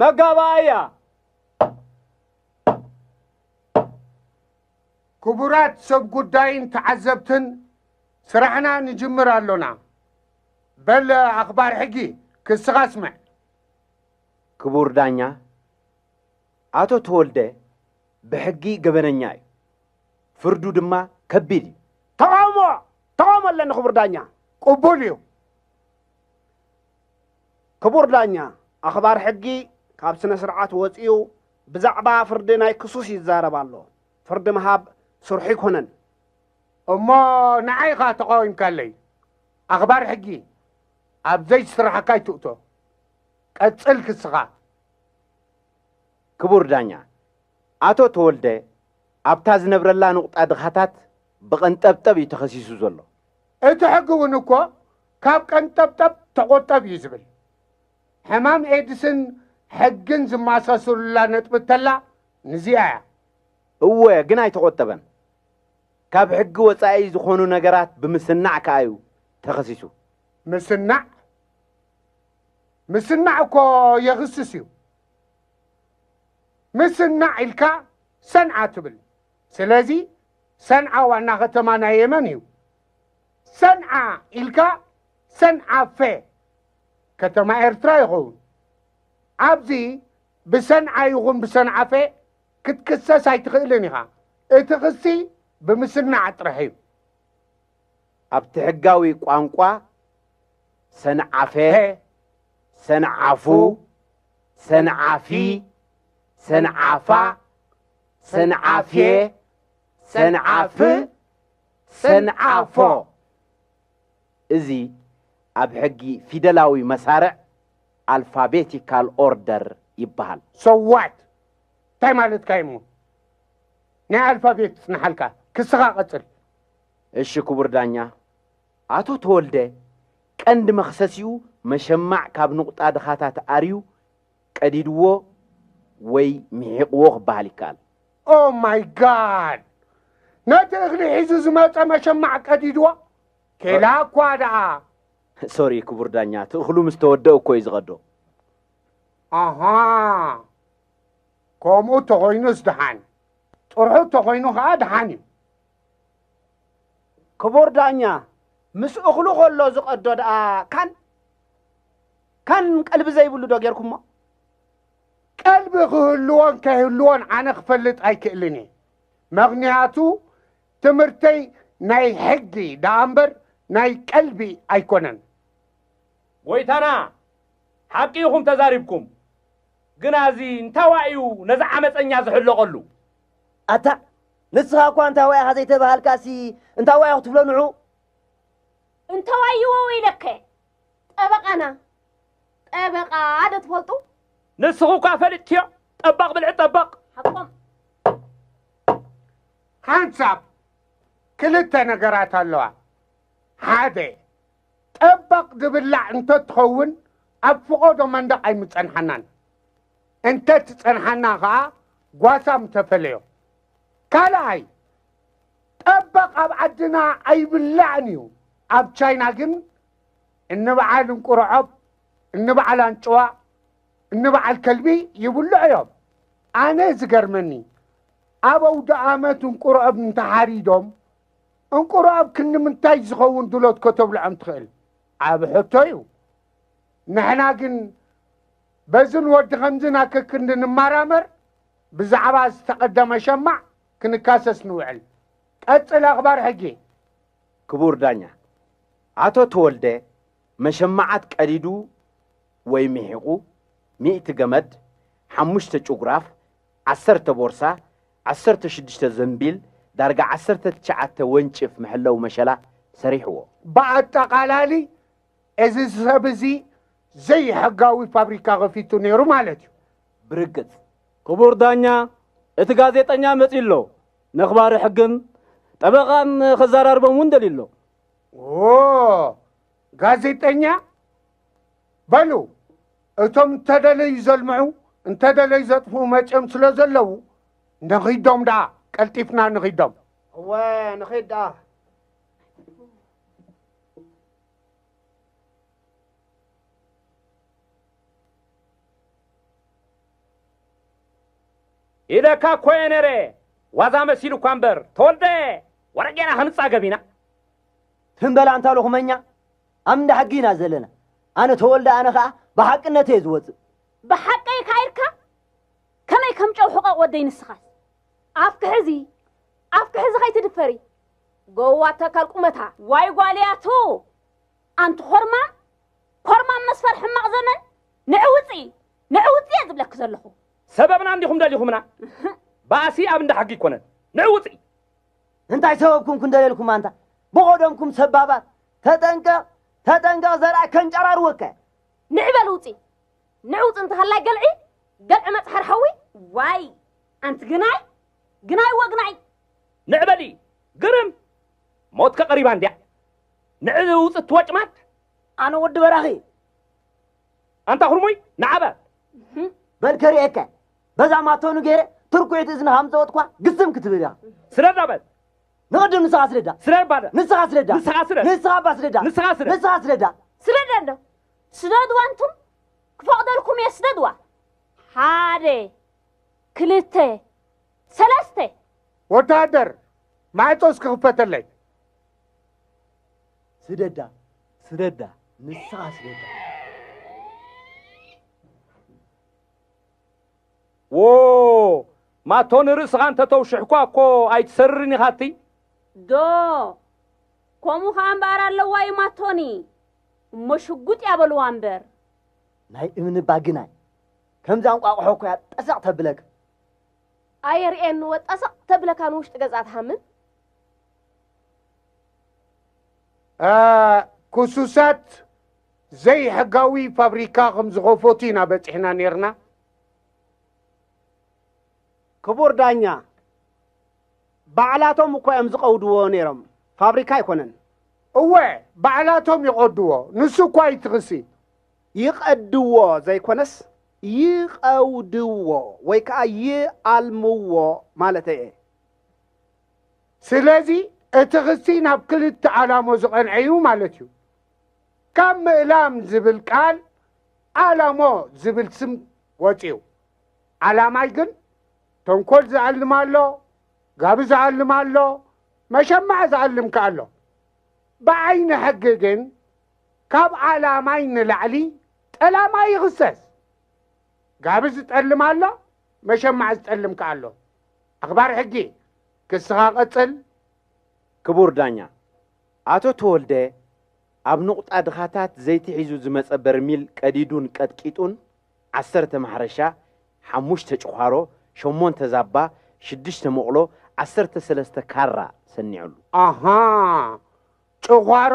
መጋባእያ ክቡራት ሰብ ጉዳይን ተዓዘብትን ስራሕና ንጅምር ኣሎና። በል ኣኽባር ሕጊ ክስኻ ኣስምዕ። ክቡር ዳኛ፣ ኣቶ ተወልደ ብሕጊ ገበነኛ እዩ፣ ፍርዱ ድማ ከቢድ እዩ። ተቓውሞ ተቓውሞ ኣለኒ ክቡር ዳኛ። ቅቡል እዩ። ክቡር ዳኛ፣ ኣኽባር ሕጊ ካብ ስነ ስርዓት ወጺኡ ብዛዕባ ፍርዲ ናይ ክሱስ ይዛረብ ኣሎ። ፍርዲ ምሃብ ስርሑ ኣይኮነን። እሞ ንዓይ ኢኻ ተቓዊምካለይ። ኣኽባር ሕጊ ኣብ ዘይስራሕካ ኣይትእቶ። ቀጽል ክስኻ። ክቡር ዳኛ፣ ኣቶ ተወልደ ኣብታ ዝነብረላ ንቑጣ ድኻታት ብቐንጠብጠብ እዩ ተኸሲሱ ዘሎ። እቲ ሕጊ እውን እኮ ካብ ቀንጠብጠብ ተቆጠብ እዩ ዝብል። ሕማም ኤድስን ሕግን ዝማሳሰሉላ ነጥቢ እተላ ንዚኣ እያ። እወ ግን ኣይተቆጠበን። ካብ ሕጊ ወፃኢ ዝኾኑ ነገራት ብምስናዕ ከዓ እዩ ተኸሲሱ። ምስናዕ ምስናዕ እኮ የኽስስ እዩ። ምስናዕ ኢልካ ሰንዓ ትብል። ስለዚ ሰንዓ ዋና ከተማ ናይ የመን እዩ። ሰንዓ ኢልካ ሰንዓፈ ከተማ ኤርትራ ይኸውን። ኣብዚ ብሰንዓ ይኹን ብሰንዓፈ ክትክሰስ ኣይትኽእልን ኢኻ። እቲ ክሲ ብምስናዕ ጥራሕ እዩ። ኣብቲ ሕጋዊ ቋንቋ ሰንዓፈ፣ ሰንዓፉ፣ ሰንዓፊ፣ ሰንዓፋ ሰንዓፌ ሰንዓፍ ሰንዓፎ እዚ ኣብ ሕጊ ፊደላዊ መሳርዕ ኣልፋቤቲካል ኦርደር ይበሃል። ሶዋት እንታይ ማለትካ እዩ እሞ ናይ ኣልፋቤት ይጽንሓልካ ክስኻ ቀጽል። እሺ ክቡር ዳኛ ኣቶ ተወልደ ቀንዲ መኽሰሲኡ መሸማዕ ካብ ንቑጣ ድኻታት ኣርዩ ቀዲድዎ ወይ ምሒቕዎ ክበሃል ይከኣል። ኦህ ማይ ጋድ! ነቲ እኽሊ ሒዙ ዝመጸ መሸማዕ ቀዲድዎ? ኬላ እኳ ደኣ! ሶሪ ክቡር ዳኛ፣ እቲ እኽሉ ምስ ተወደኡ እኮ እዩ ዝቐዶ። ኣሃ! ከምኡ እንተኾይኑስ ደሓን፣ ጥርሑ እንተኾይኑ ከኣ ደሓን እዩ። ክቡር ዳኛ፣ ምስ እኽሉ ከሎ ዝቐዶ ደኣ ካን? ካን ቀልቢ ዘይብሉ ዶ ጌርኩሞ? ቀልቢ ክህልዎን ከይህልዎን ኣነ ክፈልጥ ኣይክእልን እየ። መኽንያቱ ትምህርተይ ናይ ሕጊ ደኣ እምበር ናይ ቀልቢ ኣይኮነን። ጎይታና ሓቂ ኢኹም ተዛሪብኩም ግና እዚ እንታዋይ እዩ ነዚ ዓመጸኛ ዝሕለቐሉ? ኣታ ንስኻ እኳ እንታዋይ ኢኻ ዘይተባሃልካሲ እንታዋይ ክትብሎ ንዑ። እንታዋይ እዎ ኢለከ ጠበቓና ጠበቓ ዶ ትፈልጡ? ንስኹ እኳ ፈልጥክዮ ጠባቕ ብልዒ ጠባቕ። ሓቆም ሓንሳብ ክልተ ነገራት ኣለዋ። ሓደ ጠባቕ ዝብላዕ እንተትኸውን ኣብ ፍቖዶ መንደቕ ኣይምጸንሓናን። እንተትጸንሓና ከኣ ጓሳ ምተፈለዮ። ካልኣይ ጠበቕ ኣብ ዓድና ኣይብላዕን እዩ ኣብ ቻይና ግን እንበዓል እንቁርዖብ እንበዓል ኣንጭዋ እንበዓል ከልቢ ይብልዑ እዮም ኣነ ዝገርመኒ ኣብ ኣውደኣመት እንቁርዖብ እንተሓሪዶም እንቁርዖብ ክንምንታይ ዝኸውን ድሎት ከተብልዖም ትኽእል ዓብ ሕቶ እዩ ንሕና ግን በዝን ወዲ ከምዝን ኣከክንዲ ንመራመር ብዛዕባ ዝተቐደመ ሸማዕ ክንካሰስ ንውዕል። ቀጽል ኣኽባር ሕጊ። ክቡር ዳኛ፣ ኣቶ ተወልደ መሸማዓት ቀዲዱ ወይ ሚሒቑ ሚእቲ ገመድ፣ ሓሙሽተ ጭጉራፍ፣ ዓሰርተ ቦርሳ፣ ዓሰርተ ሽዱሽተ ዘንቢል፣ ዳርጋ ዓሰርተ ትሽዓተ ወንጭፍ መሐለዊ መሸላ ሰሪሕዎ። ብኣጠቓላሊ እዚ ሰብ እዚ ዘይሕጋዊ ፋብሪካ ከፊቱ ነይሩ ማለት እዩ። ብርግጽ ክቡር ዳኛ እቲ ጋዜጠኛ መጺኡ ኣሎ ነኽባሪ ሕግን ጠበቓን ከዘራርቦም እውን ደልዩ ኣሎ። ኦ ጋዜጠኛ በሉ እቶም እንተደለዩ ዘልምዑ እንተደለዩ ዘጥፍኡ መጺኦም ስለ ዘለዉ ንኺዶም ደኣ ቀልጢፍና ንኺዶም እወ ንኺድ ደኣ ኢለካ እኮ እየ ነይረ ዋዛ መሲሉ እኳ እምበር ተወልደ ወረጌና ክንጻገብ ኢና ትም በላ እንታ ሎኹመኛ ኣብ እንዳ ሕጊ ኢና ዘለና ኣነ ተወልደ ኣነ ከዓ ብሓቅነት እየ ዝወፅእ ብሓቀይ ካይርካ ከመይ ከም ጨው ሕቐቕ ወደይ ንስኻስ ኣፍኪ ሕዚ ኣፍኪ ሕዚ ከይትድፈሪ ጎዋ ተካል ቁመታ ዋይ ጓልያቱ ኣንቲ ኮርማም ኮርማም መስፈር ሕማቕ ዘመን ንዕ ውፅኢ ንዕ ውፅኢ እየ ዝብለኪ ዘለኹ ሰበብና እንዲኹም ደሊኹምና ባእሲ ኣብ እንዳ ሕጊ ይኮነን ንዕ ውፅኢ እንታይ ሰበብኩም ክንደልየልኩም ኣንታ ብቆደምኩም ሰባባት ተጠንቀቕ ተጠንቀቕ ዘርኣ ከንጨራርወካ ንዕበል ውፂ ንዕውፅ እንተሃላይ ገልዒ ገልዒ መፅሓር ሓዊ ዋይ ኣንቲ ግናይ ግናይ ወግናይ! ንዕ በሊ! ግርም! ሞትከ ቀሪባ እንድያ! ንዕ ውጽ ትወጭማት! ኣነ ወዲ በራኺ! ኣንታ ኩርሙይ ንዓ በል! በል ከርእየካ በዛ ማቶኑ ገይረ ትርኩዒት እዝንኻ ምጸወጥኳ ግስም ክትብል ኢኻ። ስረዳ በል! ንቕድም ንስኻ ስረዳ! ስረር ባለ! ንስኻ ስረዳ! ንስኻ ስረር! ንስኻ እባ ስረዳ! ንስኻ ስረር! ንስኻ ስረዳ! ስረዳ እንዶ! ስደድዋ እንቱም ክፈቕደልኩም እየ ስደድዋ! ሓደ! ክልተ ሰለስተ ወተሃደር ማዕጾ እስኪ ክፈተለይ ስደዳ ስደዳ ንስኻ ስደዳ ዎ ማቶ ንርእስኻ እንተ ተውሽሕኳ እኮ ኣይትሰርርን ኢኻ እትይ ዶ ከምኡ ኸዓ እምበኣር ኣለዋ እዩ ማቶኒ እሞ ሽጉጥ እያ በልዋ እምበር ናይ እምኒ ባግናይ ከምዛ እንቋቑሖ እኮ እያ ጠሰቕ ተብለካ። ኣየርእየኒ ወ ጠሰቕ ተብለካ ንውሽጢ ገዛ ትሃምም። ክሱሳት ዘይሕጋዊ ፋብሪካ ከም ዝኸፈቱ ኢና በፂሕና ነርና። ክቡር ዳኛ ባዕላቶም እኮ እዮም ዝቐውድዎ ነይሮም፣ ፋብሪካ ኣይኮነን። እወ ባዕላቶም ይቐድዎ፣ ንሱ እኳ እዩ እቲ ክሲ። ይቐድዎ ዘይኮነስ ይቐውድዎ ወይ ከኣ ይኣልምዎ ማለተይ እየ። ስለዚ እቲ ክሲ ናብ ክልተ ኣላሞ ዝቐንዐ እዩ ማለት እዩ። ካብ ምእላም ዝብል ቃል ኣላሞ ዝብል ስም ወጺኡ። ኣላማይ ግን ተንኮል ዝኣልም ኣሎ፣ ጋቢ ዝኣልም ኣሎ፣ መሸማዕ ዝኣልም ከኣ ኣሎ። ብዓይኒ ሕጊ ግን ካብ ኣላማይ ንላዕሊ ጠላማይ ይኽሰስ። ጋቢ ዝጠልም ኣሎ፣ መሸማዕ ዝጠልም ከኣ ኣሎ። ኣኽባር ሕጊ፣ ክስኻ ቀጽል። ክቡር ዳኛ፣ ኣቶ ተወልደ ኣብ ንቑጣ ድኻታት ዘይቲ ሒዙ ዝመጸ በርሚል ቀዲዱን ቀጥቂጡን ዓሰርተ ማሕረሻ፣ ሓሙሽተ ጭዃሮ፣ ሸሞንተ ዛባ፣ ሽዱሽተ መቑሎ፣ ዓሰርተ ሰለስተ ካራ ሰኒዑሉ። ኣሃ! ጭዃሮ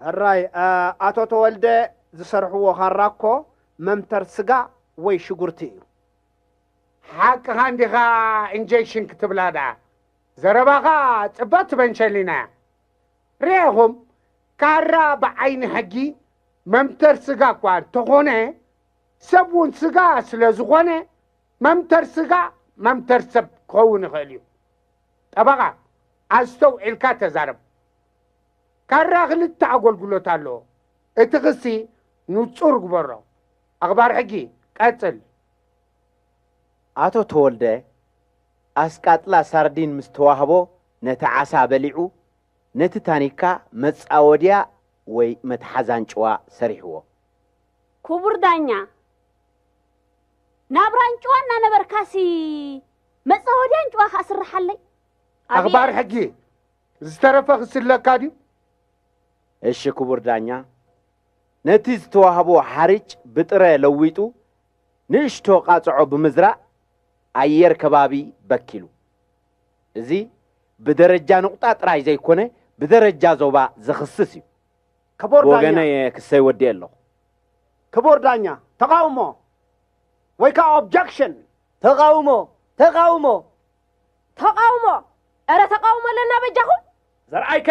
ሕራይ ኣቶ ተወልደ ዝሰርሕዎ ካራ እኮ መምተር ስጋ ወይ ሽጉርቲ እዩ። ሓቅኻ እንዲኻ ኢንጀክሽን ክትብላ ደኣ ዘረባኻ ጽብቕቲ በንሸሊና እያ። ርኤኹም ካራ ብዓይኒ ሕጊ መምተር ስጋ እኳ እንተኾነ ሰብ እውን ስጋ ስለዝኾነ መምተር ስጋ መምተር ሰብ ክኸውን ይኽእል እዩ። ጠበቓ፣ ኣስተውዒልካ ተዛረብ። ካራ ክልተ ኣጎልጉሎት ኣለዎ። እቲ ክሲ ንጹር ግበሮ። ኣኽባር ሕጊ፣ ቀጽል። ኣቶ ተወልደ፣ ኣስቃጥላ ሳርዲን ምስ ተዋህቦ ነቲ ዓሳ በሊዑ፣ ነቲ ታኒካ መጻወድያ ወይ መትሓዝ ኣንጭዋ ሰሪሕዎ። ክቡር ዳኛ፣ ናብራ ኣንጭዋ እናነበርካሲ መጻወድያን ጭዋኻ ኣስርሓለይ። ኣኽባር ሕጊ፣ ዝተረፈ ክስለካ ድዩ? እሺ ክቡር ዳኛ፣ ነቲ ዝተዋህቦ ሓርጭ ብጥረ ለዊጡ ንእሽቶ ቃጽዖ ብምዝራእ ኣየር ከባቢ በኪሉ። እዚ ብደረጃ ንቑጣ ጥራይ ዘይኮነ ብደረጃ ዞባ ዘኽስስ እዩ። ክቡር ዳኛ፣ ብወገነይ እየ ክሰይ ወዲኤ ኣለኹ። ክቡር ዳኛ፣ ተቓውሞ ወይ ከኣ ኦብጀክሽን! ተቓውሞ! ተቓውሞ! ተቓውሞ! እረ ተቓውሞ ኣለና በጃኹም! ዘርኣይከ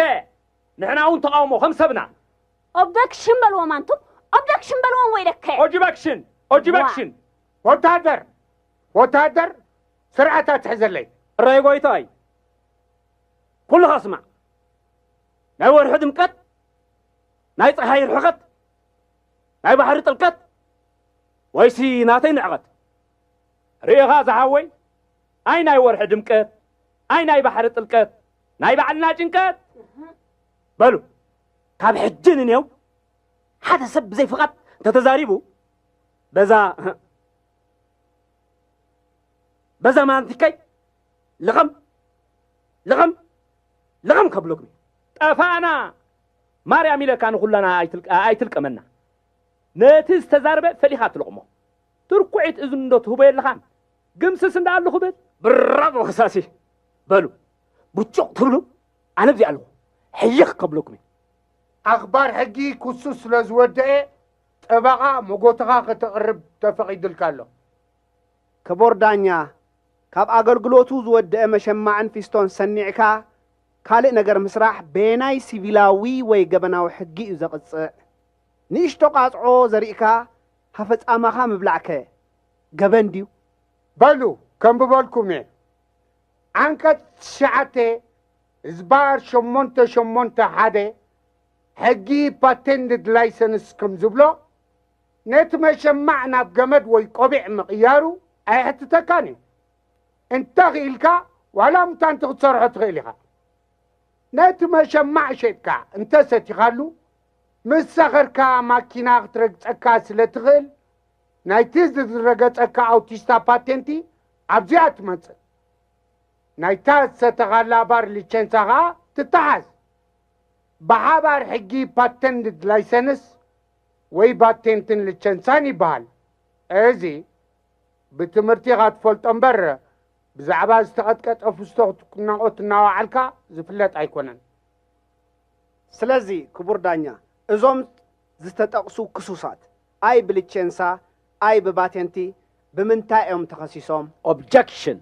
ንሕና እውን ተቓውሞ ከም ሰብና! ኦብደክሽን በልዎም ኣንቱም ኦብደክሽን በልዎም ወይ ደከ! ኦጅበክሽን! ኦጅበክሽን! ወታደር! ወታደር! ስርዓት ኣትሕዘለይ! እራይ ጎይታይ! ኩልኻ ስማዕ! ናይ ወርሒ ድምቀት፣ ናይ ፀሓይ ርሕቐት፣ ናይ ባሕሪ ጥልቀት ወይሲ ናተይ ንዕቐት? ርኢኻ ዝሓወይ ኣይ ናይ ወርሒ ድምቀት ኣይ ናይ ባሕሪ ጥልቀት ናይ ባዕልና ጭንቀት በሉ ካብ ሕጂ ንኔው ሓደ ሰብ ብዘይ ፍቓድ እንተተዛሪቡ በዛ በዛ ማንቲከይ ልቕም ልቕም ልቕም ከብለኩም ጠፋእና ማርያም ኢለካ ንኹላና ኣይትልቀመና ነቲ ዝተዛርበ ፈሊኻ ትልቕሞ ትርኩዒት እዝኒ ዶ ትህቦ የለኻን? ግምስስ እንዳ ኣሉ ክብል። ብራቮ ከሳሲ! በሉ ብጩቕ ትብሉ ኣነ ኣብዚ ኣለኹ ሕይኽ ከብለኩም እየ። ኣኽባር ሕጊ ክሱ ስለ ዝወደኤ ጠበቓ መጎተኻ ከተቕርብ ተፈቒዱልካ ኣሎ። ክቡር ዳኛ፣ ካብ ኣገልግሎቱ ዝወደኤ መሸማዕን ፊስቶን ሰኒዕካ ካልእ ነገር ምስራሕ በየናይ ሲቪላዊ ወይ ገበናዊ ሕጊ እዩ ዘቕጽዕ? ንእሽቶ ቃጽዖ ዘሪእካ ሃፈ ጻማኻ ምብላዕ ከ ገበን ድዩ? በሉ ከንብበልኩም እየ ዓንቀፅ ትሽዓተ ህዝባር ሸሞንተ ሸሞንተ ሓደ ሕጊ ፓቴንድድ ላይሰንስ ከም ዝብሎ ነቲ መሸማዕ ናብ ገመድ ወይ ቆቢዕ ምቕያሩ ኣየሕትተካን እዩ እንተ ኽኢልካ ዋላ ሙታንቲ ክትሰርሖ ትኽእል ኢኻ ነቲ መሸማዕ ሸጥካ እንተ ሰቲኻሉ ምስ ሰኸርካ ማኪና ክትረግጸካ ስለ ትኽእል፣ ናይቲ ዝረገጸካ ኣውቲስታ ፓቴንቲ ኣብዚኣ ትመጽእ። ናይታ ዝሰተኻላ ባር ሊቸንሳ ከኣ ትተሓዝ። ብሓባር ሕጊ ፓተንት ላይሰንስ ወይ ባቴንትን ልቸንሳን ይበሃል። እዚ ብትምህርቲ ኢኻ ትፈልጦ እምበር ብዛዕባ ዝተቐጥቀጠ ፍስቶ ክትናቖት እናወዓልካ ዝፍለጥ ኣይኮነን። ስለዚ ክቡር ዳኛ እዞም ዝተጠቕሱ ክሱሳት ኣይ ብልቼንሳ ኣይ ብባቴንቲ ብምንታይ እዮም ተኸሲሶም? Objection፣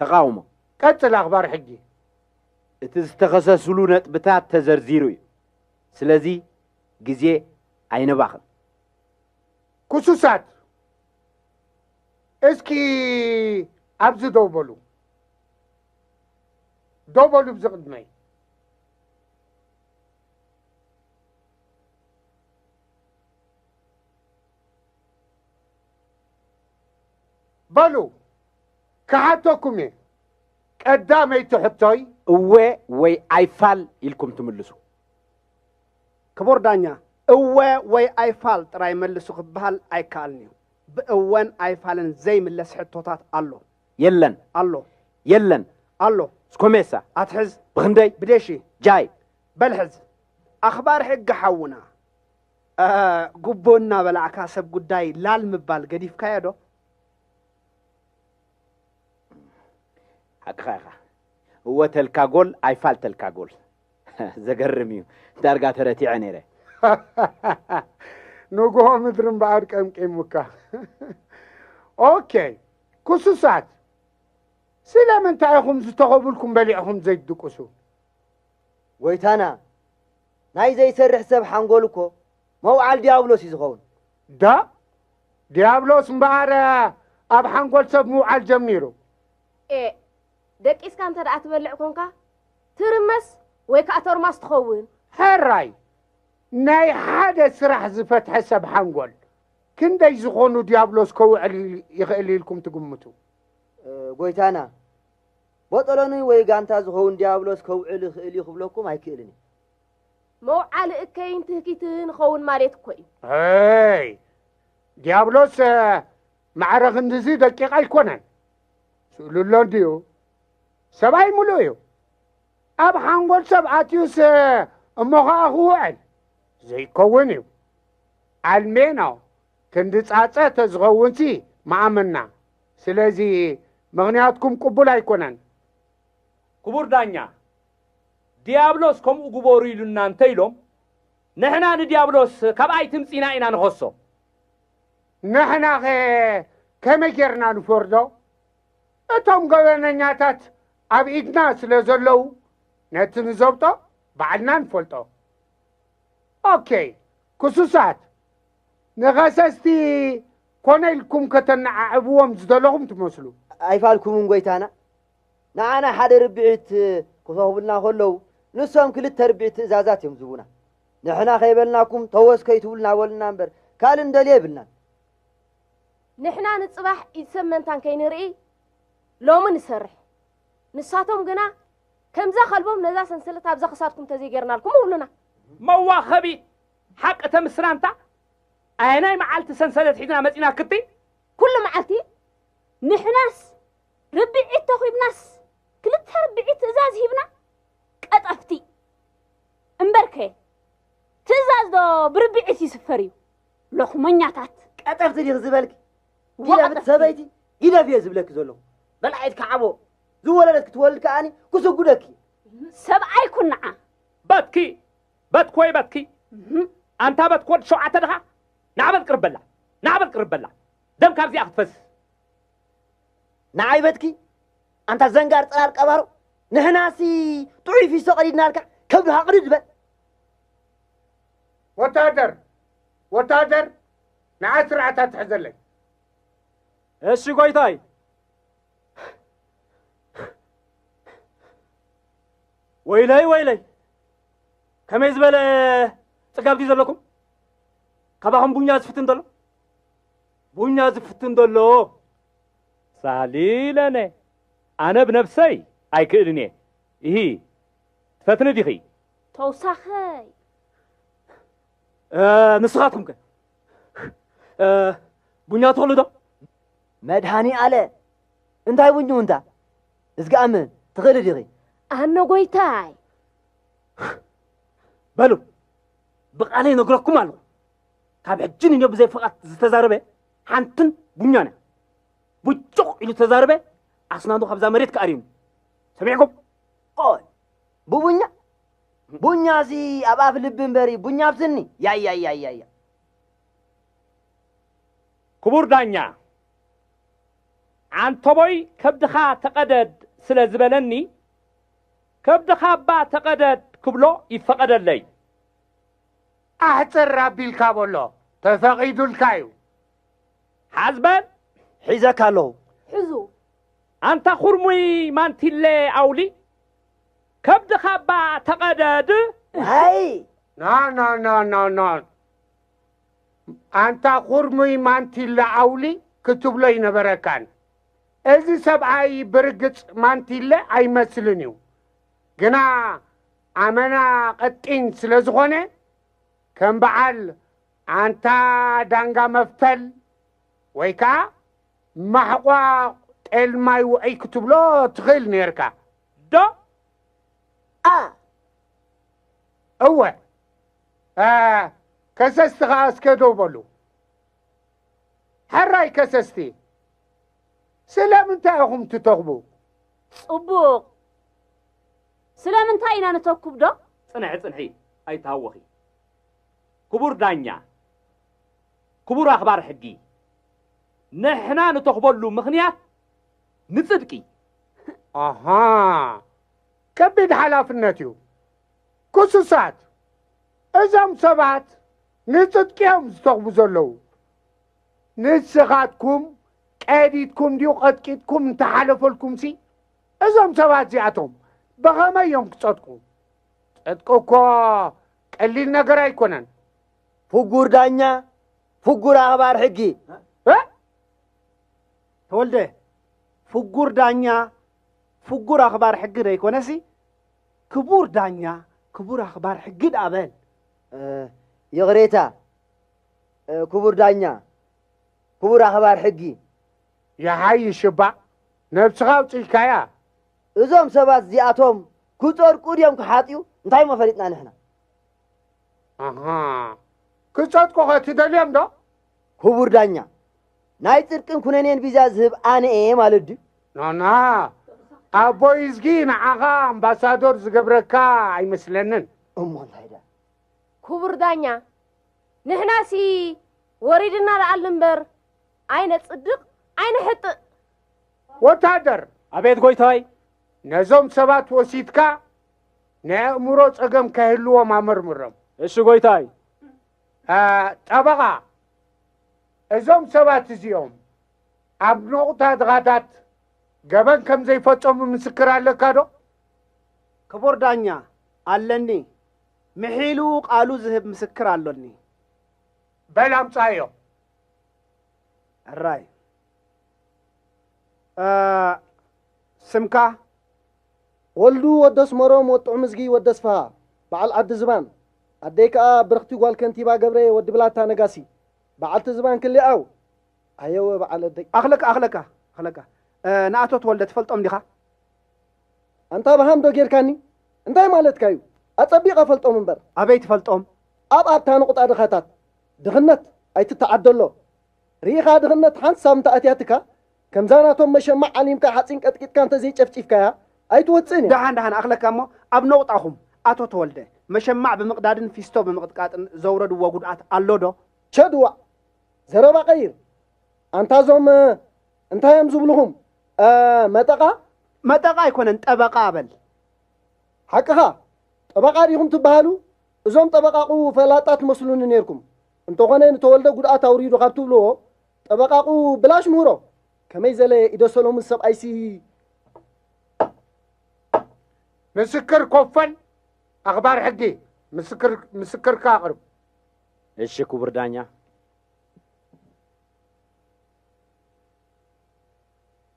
ተቓውሞ። ቀጽል ኣኽባር ሕጊ። እቲ ዝተኸሰስሉ ነጥብታት ተዘርዚሩ እዩ። ስለዚ ግዜ ኣይነባኽን። ክሱሳት እስኪ ኣብዚ ደው በሉ። ደው በሉ ብዚ ቅድመይ በሉ ክሓተኩም እየ ቀዳመይቲ ሕቶይ እወ ወይ ኣይፋል ኢልኩም ትምልሱ ክቡር ዳኛ እወ ወይ ኣይፋል ጥራይ መልሱ ክበሃል ኣይከኣልን እዩ ብእወን ኣይፋልን ዘይምለስ ሕቶታት ኣሎ የለን ኣሎ የለን ኣሎ ስኮሜሳ ኣትሕዝ ብክንደይ ብደሺ ጃይ በል ሕዝ ኣኽባር ሕጊ ሓውና ጉቦ እናበላዕካ ሰብ ጉዳይ ላል ምባል ገዲፍካዮ ዶ ሓቅኻ ኢኻ እወ ተልካ ጎል ኣይፋልተልካ ጎል ዘገርም እዩ ዳርጋ ተረቲዐ ነይረ ንጉሆ ምድሪ እምበኣር ቀምቂሙካ ኦኬ ክሱሳት ስለምንታይ ኢኹም ዝተኸቡልኩም በሊዕኹም ዘይትድቅሱ? ጐይታና፣ ናይ ዘይሰርሕ ሰብ ሓንጎል እኮ መውዓል ዲያብሎስ እዩ ዝኸውን። ዶ ዲያብሎስ እምበኣር ኣብ ሓንጎል ሰብ ምውዓል ጀሚሩ? ኤእ፣ ደቂስካ እንተ ደኣ ትበልዕ ኰንካ፣ ትርመስ ወይ ከኣ ቶርማስ ትኸውን። ሕራይ፣ ናይ ሓደ ስራሕ ዝፈትሐ ሰብ ሓንጎል ክንደይ ዝኾኑ ዲያብሎስ ከውዕል ይኽእል ኢልኩም ትግምቱ? ጎይታና ቦጠሎኒ ወይ ጋንታ ዝኸውን ዲያብሎስ ከውዕል ይኽእል እዩ ክብለኩም ኣይክእልን እዩ። መውዓሊ እከይን ትህኪትህን ይኸውን ማለት እኮ እዩ። ኣይ ዲያብሎስ ማዕረ ክንድዚ ደቂቕ ኣይኮነን። ስእሉ ኣሎ እንድዩ ሰብኣይ ምሉእ እዩ። ኣብ ሓንጎል ሰብ ኣትዩስ እሞ ኸዓ ክውዕል ዘይከውን እዩ። ኣልሜና ክንዲ ጻጸ ተዝኸውንሲ ምኣመንና ስለዚ ምኽንያትኩም ቅቡል ኣይኮነን። ክቡር ዳኛ ድያብሎስ ከምኡ ግበሩ ኢሉና እንተ ኢሎም ንሕና ንድያብሎስ ካብ ኣይትምጺና ኢና ንኸሶ። ንሕናኸ ከመይ ጌርና ንፈርዶ? እቶም ገበነኛታት ኣብ ኢድና ስለ ዘለዉ ነቲ ንዘብጦ ባዕልና ንፈልጦ። ኦኬይ ክሱሳት ንኸሰስቲ ኮነ ኢልኩም ከተነዓዕብዎም ዝደለኹም ትመስሉ። ኣይፋልኩምን ጐይታና። ንዓና ሓደ ርብዒት ክሰኹቡልና ከለዉ፣ ንሶም ክልተ ርብዒት ትእዛዛት እዮም ዝህቡና። ንሕና ከይበልናኩም ተወስ ከይትብሉና በሉና እምበር ካልእ ንደልዮ የብልናን። ንሕና ንጽባሕ ኢድ ሰብ መንታን ከይንርኢ ሎሚ ንሰርሕ። ንሳቶም ግና ከምዛ ከልቦም ነዛ ሰንሰለት ኣብዛ ክሳድኩም ተዘይጌርናልኩም እብሉና። መዋኸቢ ሓቂ ተምስራንታ ኣየናይ መዓልቲ ሰንሰለት ሒዝና መፂና ክትይ ኩሉ መዓልቲ ንሕናስ ርብዒት ተኺብናስ ክልተ ርብዒት ትእዛዝ ሂብና ቀጠፍቲ እምበርከ ትእዛዝ ዶ ብርብዒት ይስፈር እዩ ሎኽመኛታት ቀጠፍቲ ዲኽ ዝበልኪ ግደፍ ሰበይቲ ግደፍ እየ ዝብለኪ ዘለኹ በላዒት ከዓቦ ዝወለደት ክትወልድ ከዓኒ ክስጉደኪ ሰብኣይ ኩን ንዓ በትኪ በትኮይ በትኪ ኣንታ በትኪ ወዲ ሸውዓተ ድኻ ናዕበል ቅርብ በላ ናዕበል ቅርብ በላ ደም ካብዚኣ ክትፈስስ ንዓይ በትኪ ኣንታ ዘንጋር ጽላል ቀባሮ ንሕናሲ ጥዑይ ፊሶ ቀዲድናልካ ከብዱ ሃቕድድ በል ወታደር ወታደር ንዓ ስርዓት ኣትሕዘለይ። እሺ ጎይታይ። ወይለይ ወይለይ ከመይ ዝበለ ጽጋብ ድዩ ዘለኩም ካባኹም ቡኛ ዝፍትን ዘሎ ቡኛ ዝፍትን ዘሎ ሳሊለነ ኣነ ብነብሰይ ኣይክእልን እየ ይሂ ትፈትኒ ዲኺ ተውሳኸይ ንስኻትኩም ከ ቡኛ ትኽእሉ ዶ? መድሃኒ ኣለ እንታይ ቡኙ እንታ እዝግኣም ትኽእሊ ዲኺ? ኣነ ጎይታይ በሉ ብቓለ ይነግረኩም ኣለኹ ካብ ሕጂ ንዮ ብዘይ ፍቓት ዝተዛረበ ሓንትን ቡኛን እያ ቡጩቕ ኢሉ ተዛረበ ኣስናኑ ካብዛ መሬት ክኣርዩኒ ሰሚዕኩም ቆይ ብቡኛ ቡኛ'ሲ ኣብ ኣፍ ልቢ እምበሪ ቡኛ ኣብ ስኒ! ያያያያያ! ክቡር ዳኛ ዓንተቦይ ከብድኻ ተቐደድ ስለ ዝበለኒ ከብድኻ'ባ ተቐደድ ክብሎ ይፈቐደለይ። ኣሕጽር ኣቢልካ በሎ ተፈቒዱልካ'ዩ። ሓዝ በል! ሒዘካ ኣለኹ። ሕዙ! ኣንታ ኩርሙይ ማንቲለ ኣውሊ ከብድኻ እባ ተቐደድ። ዋይ! ና ና ና ና ና ኣንታ ኩርሙይ ማንቲለ ኣውሊ ክትብሎ ኣይነበረካን። እዚ ሰብኣይ ብርግጽ ማንቲለ ኣይመስልን እዩ፣ ግና ኣመና ቀጢን ስለ ዝኾነ ከም በዓል ኣንታ ዳንጋ መፍተል ወይ ከኣ ማሕቋቕ ጤል ማይ ውዑይ ክትብሎ ትኽእል ኔርካ። ዶ a እወ a ከሰስቲ ኸኣ እስከ ደው በሉ ሕራይ ከሰስቲ ስለምንታይ ኢኹም ትተኽቡ ጽቡቕ ስለምንታይ ኢና ንተኩብ ዶ ጽንሒ ጽንሒ ኣይትሃወኺ ክቡር ዳኛ ክቡር ኣኽባር ሕጊ ንሕና ንተኽበሉ ምኽንያት ንጽድቂ ኣሃ ከቢድ ሓላፍነት እዩ ክሱሳት እዞም ሰባት ንጽድቂ እዮም ዝተኽቡ ዘለዉ ንስኻትኩም ቀዲድኩም ድዩ ቐጥቂጥኩም እንተሓለፈልኩም ሲ እዞም ሰባት እዚኣቶም ብኸመይ እዮም ክጸድቁ ጽድቂ እኮ ቀሊል ነገር ኣይኮነን ፍጉር ዳኛ ፍጉር ኣኽባር ሕጊ ተወልደ ፍጉር ዳኛ ፍጉር ኣኽባር ሕጊ ዘይኮነሲ ክቡር ዳኛ ክቡር ኣኽባር ሕጊ ድኣ በል። ይቕሬታ ክቡር ዳኛ ክቡር ኣኽባር ሕጊ። ይሓይሽ እባ ነብስኻ ኣውጺእካያ። እዞም ሰባት እዚኣቶም ክጸድቁ ድዮም ክሓጥዩ እንታይ እሞ ፈሊጥና ንሕና ኣሃ ክጸድቁኸ ትደልዮም ዶ ክቡር ዳኛ ናይ ጽድቅን ኩነኔን ቪዛ ዝህብ ኣነ እየ ማለት ድዩ? ናና ኣቦይ እዝጊ ንዓኻ ኣምባሳዶር ዝገብረካ ኣይመስለንን። እሞ እንታይ ድኣ? ክቡር ዳኛ ንሕናሲ ወሪድና ንኣል እምበር ኣይነጽድቕ ኣይንሕጥእ። ወታደር! ኣቤት ጎይታይ! ነዞም ሰባት ወሲድካ ናይ ኣእምሮ ጸገም ከይህልዎም ኣመርምሮም። እሺ ጎይታይ። ጠበቓ እዞም ሰባት እዚኦም ኣብ ነቑታ ድኻታት ገበን ከም ዘይፈጸሙ ምስክር ኣለካ ዶ? ክቡር ዳኛ፣ ኣለኒ። ምሒሉ ቃሉ ዝህብ ምስክር ኣሎኒ። በል ኣምጽኣዮ። ሕራይ። ስምካ፣ ወልዱ ወዲ ኣስመሮም ወድ ጥዑምዝጊ ወዲ ኣስፍሃ በዓል ዓዲ ዝባን ኣደይ ከኣ ብርኽቲ ጓል ከንቲባ ገብሬ ወዲ ብላታ ነጋሲ በዓልቲ ዝባን ክሊ ዓው ኣየወ በዓል ኣደይ። ኣኽለካ ኣኽለካ ኣኽለካ ንኣቶ ተወልደ ትፈልጦም ዲኻ? ኣንታ በሃም ዶ ጌርካኒ እንታይ ማለትካ እዩ ኣጸቢቀ እፈልጦም እምበር። ኣበይ ትፈልጦም? ኣብ ኣብታ ንቑጣ ድኻታት ድኽነት ኣይትተዓደሎ ርኢኻ ድኽነት ሓንሳብ እንተ ኣትያትካ ከምዛ ናቶም መሸማዕ ዓሊምካ ሓጺን ቀጥቂጥካ እንተ ዘይጨፍጪፍካያ ኣይትወጽእን እያ። ደሓን ደሓን ኣኽለካ እሞ ኣብ ነቑጣኹም ኣቶ ተወልደ፣ መሸማዕ ብምቕዳድን ፊስቶ ብምቕጥቃጥን ዘውረድዎ ጉድኣት ኣሎ ዶ? ቸዱ ዋእ! ዘረባ ቀይር! ኣንታ እዞም እንታይ እዮም ዝብሉኹም መጠቓ? መጠቓ ኣይኮነን ጠበቓ በል። ሓቅኻ! ጠበቓ ዲኹም ትበሃሉ? እዞም ጠበቓቑ ፈላጣት ትመስሉኒ ኔርኩም። እንተኾነ ንተወልደ ጉድኣት ኣውሪዱ ካብ ትብልዎ ጠበቃቁ ብላሽ ምህሮ ከመይ ዘለ ኢደ ሰሎሙን ሰብኣይሲ። ምስክር ኮፈን ኣኽባር ሕጊ ምስክርካ ኣቕርብ። እሺ ክቡር ዳኛ።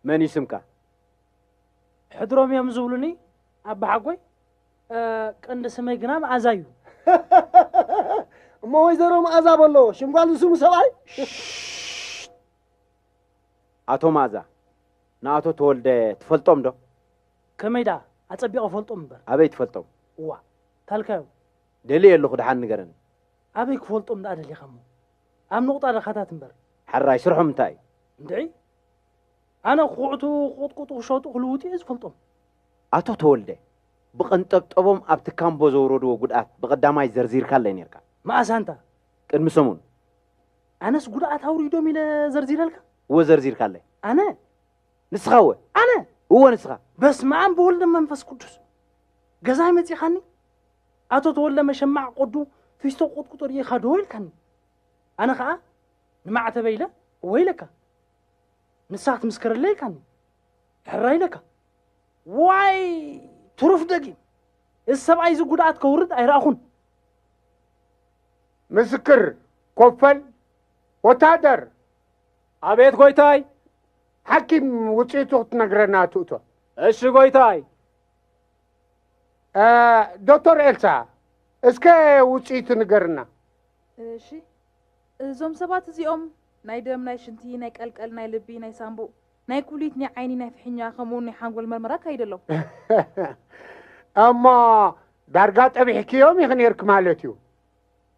መን እዩ ስምካ? ሕድሮም እዮም ዝብሉኒ ኣባሓጎይ፣ ቀንዲ ስመይ ግና መኣዛ እዩ። እሞ ወይዘሮ መኣዛ በሎ ሽም ጓል ዝስሙ ሰብኣይ። ኣቶ መኣዛ ንኣቶ ተወልደ ትፈልጦም ዶ? ከመይ ደኣ ኣጸቢቐ እፈልጦም እምበር። ኣበይ ትፈልጦም? እዋ ታልካዮም። ደልየ ኣለኹ ደሓን ንገረኒ። ኣበይ ክፈልጦም ደኣ ደሊኻ እሞ? ኣብ ንቑጣ ድኻታት እምበር። ሕራይ ስርሖም እንታይ እዩ? እንድዒ ኣነ ክኹዕቱ፣ ክቕጥቅጡ፣ ክሸጡ፣ ክልውጡ እየ ዝፈልጦም። ኣቶ ተወልደ፣ ብቐንጠብጠቦም ኣብቲ ካምቦ ዘውረድዎ ጉድኣት ብቐዳማይ ዘርዚርካለይ ኔርካ። መኣስ ኣንታ? ቅድሚ ሰሙን። ኣነስ ጉድኣት ኣውሪዶም ኢለ ዘርዚረልካ? እወ ዘርዚርካለይ። ኣነ? ንስኻ እወ። ኣነ? እወ ንስኻ። በስመኣም ብወልድ መንፈስ ቅዱስ! ገዛይ መጺኻኒ? ኣቶ ተወልደ መሸማዕ ቁዱ ፊስቶ ቁጥቁጦ ርኢኻ ዶ ኢልካኒ ኣነ ኸኣ ንማዕተበይ ኢለ ወይለካ ንስኻ ክትምስክረለይ ኢልካኒ ሕራይ ኢለካ ዋይ ትሩፍ ደጊም እዚ ሰብኣይ እዚ ጉድኣት ከውርድ ኣይረኣኹን ምስክር ኮፈል ወታደር ኣቤት ጎይታይ ሓኪም ውፅኢቱ ክትነግረና ትእቶ እሺ ጎይታይ ዶክተር ኤልሳ እስከ ውፅኢቱ ንገርና። እሺ እዞም ሰባት እዚኦም ናይ ደም፣ ናይ ሽንቲ፣ ናይ ቀልቀል፣ ናይ ልቢ፣ ናይ ሳንቡእ፣ ናይ ኩሊት፣ ናይ ዓይኒ፣ ናይ ፍሕኛ ከምኡውን ናይ ሓንጎል መርመራ ኣካይደ ኣለው። እሞ ዳርጋ ጠቢሕክዮም ኢኺ ነይርክ ማለት እዩ።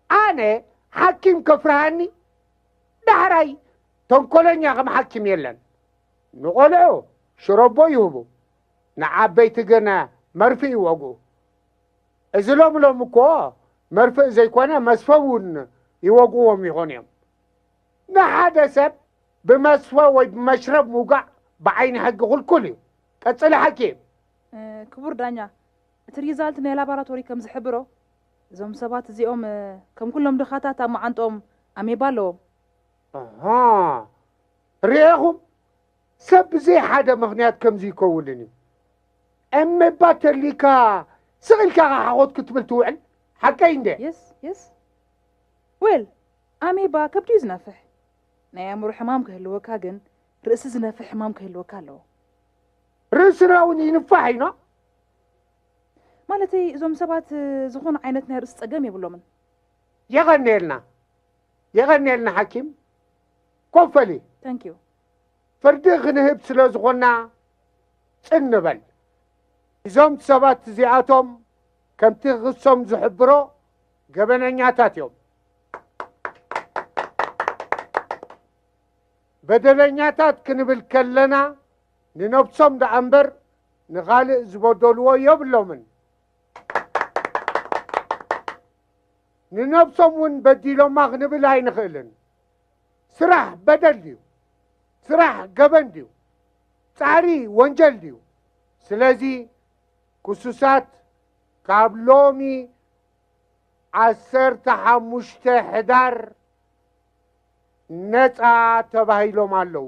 ኣነ ሓኪም ከፍርሃኒ ዳሕራይ ተንኮለኛ ከም ሓኪም የለን። ንቆልዑ ሽሮቦ ይህቡ፣ ንዓበይቲ ግን መርፍእ ይወግኡ። እዚ ሎሚ ሎሚ እኮ መርፍእ ዘይኮነ መስፈ እውን ይወግእዎም ይኾኑ እዮም። ንሓደ ሰብ ብመስፈ ወይ ብመሽረብ ምውጋእ ብዓይኒ ሕጊ ክልኩል እዩ። ቀጽሊ ሓኪም። ክቡር ዳኛ፣ እቲ ሪዛልት ናይ ላባራቶሪ ከም ዝሕብሮ፣ እዞም ሰባት እዚኦም ከም ኩሎም ድኻታት ኣብ መዓንጥኦም ኣሜባ ኣለዎም። ኣሃ ርኤኹም ሰብ ብዘይ ሓደ ምኽንያት ከምዚ ይከውልን እዩ እምባ ተሊካ ስቕ ኢልካ ኸ ሓኾት ክትብል ትውዕል ሓቀይ እንደ የስ የስ ዌል ኣሜባ ከብዲ እዩ ዝነፍሕ ናይ ኣእምሮ ሕማም ክህልወካ ግን ርእሲ ዝነፍሕ ሕማም ክህልወካ ኣለዎ ርእስና እውን ይንፋሕ እዩ ኖ ማለተይ እዞም ሰባት ዝኾነ ዓይነት ናይ ርእሲ ጸገም የብሎምን የቐኔልና የቐኔልና ሓኪም ኮፈሊ ታንኪዩ ፍርዲ ክንህብ ስለ ዝኾንና ጽን ንበል። እዞም ሰባት እዚኣቶም ከምቲ ክሶም ዝሕብሮ ገበነኛታት እዮም። በደለኛታት ክንብል ከለና ንነብሶም ደኣ እምበር ንኻልእ ዝበደልዎ የብሎምን። ንነብሶም እውን በዲሎማ ክንብል ኣይንኽእልን። ስራሕ በደል ድዩ? ስራሕ ገበን ድዩ? ጻዕሪ ወንጀል ድዩ? ስለዚ ክሱሳት ካብ ሎሚ ዓሰርተ ሓሙሽተ ሕዳር ነፃ ተባሂሎም ኣለዉ።